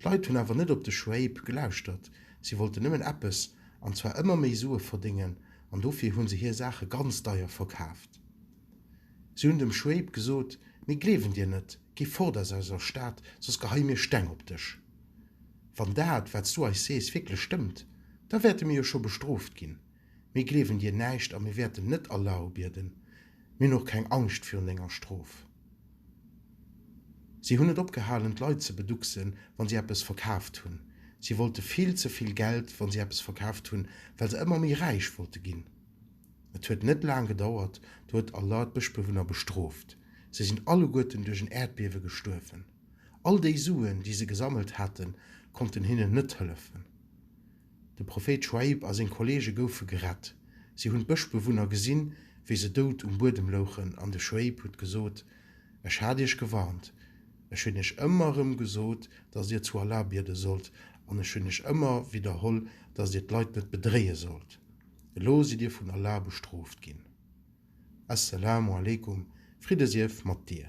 D'Leit hunn awer net op de Shuaib gelauschtert. Si wollten nëmmen eppes, an zwar ëmmer méi Sue verdéngen, an dofir hu se hir Saache ganz deier verkaaft. Si hunn dem Shuaib gesot, Mir gleewen dir net, gi fort aus eiser Stad, soss geheie mir Steng op dech. Wann dat, wat s du eis sees, wierklech stëmmt, da wäerte mir jo scho bestrooft ginn. Mir gleewen dir näischt a mir wäerten net Allah ubieden. Mir hunn och keng Angscht virun denger Strof. Si hunn net opgehalen, d'Leit ze beducksen, wa si eppes verkaaft hunn. Si wollte vill ze vill Geld, wa si eppes verkaaft hunn, well se ëmmer méi räich wollte ginn. Et huet net laang gedauert, du huet Allah d'Bëschbewunner bestrooft. Se sinn alleguerten duerch en Äerdbiewe gestuerwen. All déi Suen, déi se gesammelt haten, konnten hinnen net hëllefen. De Prophéit Sch'uaib a seng Kolleege goufe gerett. Si hunn d'Bëschbewunner gesinn, wéi se dout um Buedem louchen, an de Sch'uaib huet gesot, Ech hat iech gewarnt. Ech hunn iech ëmmer erëm gesot, datt dir zu Allah biede sollt, an ech hunn iech ëmmer widderholl, datt dir d'Leit net bedréie sollt. Elo sidd dir vun Allah bestrooft ginn. As-Salamu alaykum, Fridde sief mat dir.